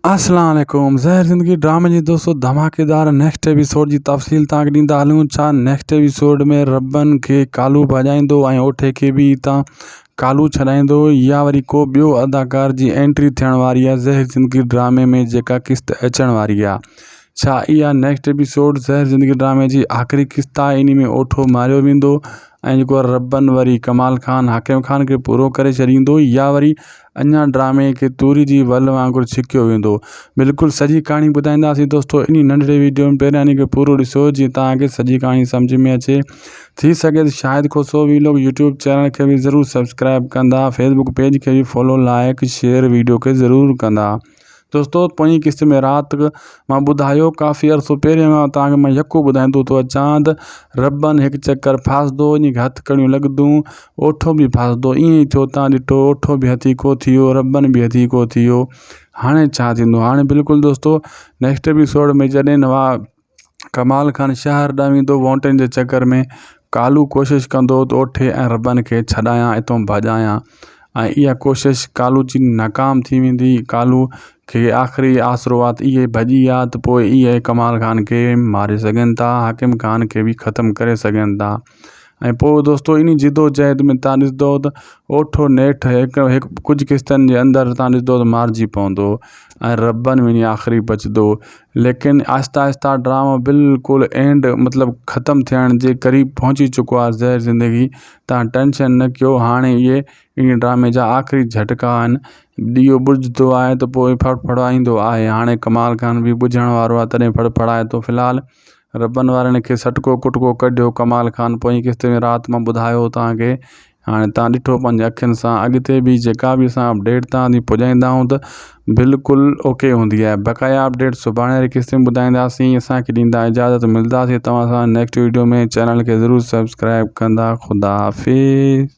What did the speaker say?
اسلام عليڪم زهر زندگي ڊرامي جي دوستو ڌماڪيدار نيڪسٽ ايپيسوڊ جي تفصيل تان کي ڏيندا هلون ڇا نيڪسٽ ايپيسوڊ ۾ ربن کي ڪالو ڀڄائيندو ۽ اوٺي کي به هتان ڪالو ڇڏائيندو يا وري ڪو ٻيو اداڪار جي انٽري ٿيڻ واري آهي زهر زندگي ڊرامي ۾ جيڪا قسط اچڻ واري آهي ڇا اها نيڪسٽ ايپيسوڊ زهر زندگي ڊرامي جي آخري قسط آهي اني ۾ اوٺو ماريو ويندو ۽ جيڪو ربن وري ڪمال خان حاڪم خان کي پورو ڪري ڇڏيندو يا وري اڃا ڊرامي کي توري جي ول وانگر ڇڪيو ويندو بلڪل سڄي ڪھاڻي ٻڌائينداسين دوستو انھي ننڍڙي ويڊيو ۾ پھريان انھي کي پورو ڏسو جيئن توھان کي سڄي ڪھاڻي سمجھ ۾ اچي ٿي سگھي تھ Shahid Khoso vlog YouTube channel کي بھ ضرور سبسڪرائب ڪندا فيسبڪ پيج کي بھ فالو لائيڪ شيئر ويڊيو کي ضرور ڪندا دوستو پوئين قسط ۾ رات مان ٻڌايو ڪافي عرصو پهريان کان توهان کي مان يڪو ٻڌائيندو ٿو اچان ته ربن هڪ چڪر ڦاسدو ان کي هٿ ڪڙيون لڳدون اوٺو به ڦاسدو ائين ئي ٿيو تان ڏٺو اوٺو به هٿي ڪو ٿيو ربن به هٿي ڪو ٿيو هاڻي ڇا ٿيندو هاڻي بلڪل دوستو نيڪسٽ ايپيسوڊ ۾ جڏهن ڪمال خان شهر ڏانهن ويندو ووٽن جي چڪر ۾ ڪالهو ڪوشش ڪندو ته اوٺي ۽ ربن کي ڇڏايان اتو ڀڄايان ۽ اها ڪوشش ڪالهو جي ناڪام ٿي ويندي ڪالهو کي آخري آسرو آت اهي ڀڄي آ ته پوء اهي ڪمال خان کي ماري سگهن ٿا حاڪم خان کي به ختم ڪري سگهن ٿا ۽ پوء دوستو انهي جدوجهد ۾ تان ڏسندو ته اوٺو نيٺ هڪ هڪ ڪجهه قسطن جي اندر تان ڏسندو ته مارجي پوندو ۽ ربن وڃي آخري بچدو ليڪن آهسته آهسته ڊرامو بالڪل اينڊ مطلب ختم ٿيڻ جي قريب پهچي چڪو آهي زهر زندگي تان ٽينشن نه ڪيو هاڻي اهي انهي ڊرامي جا آخري جهٽڪا آهن ڏيئو ٻجهندو آهي ته پوء ڦڙ ڦڙائيندو آهي هاڻي ڪمال خان به ٻجهڻ وارو آهي تڏهن ڦڙ ڦڙائي ٿو في الحال ربن وارن کي سٽڪو ڪٽڪو ڪڍيو ڪمال خان پوئين قسط ۾ رات مان ٻڌايو توهان کي هاڻي توهان ڏٺو پنهنجي اکين سان اڳتي به جيڪا به اسان اپڊيٽ توهان تي پڄائيندا آهيون ته بلڪل اوڪي هوندي آهي بقايا اپڊيٽ سڀاڻي واري قسط ۾ ٻڌائينداسين اسان کي ڏيندا اجازت ملداسين توهان سان نيڪسٽ ويڊيو ۾ چينل کي ضرور سبسڪرائب ڪندا خدا حافظ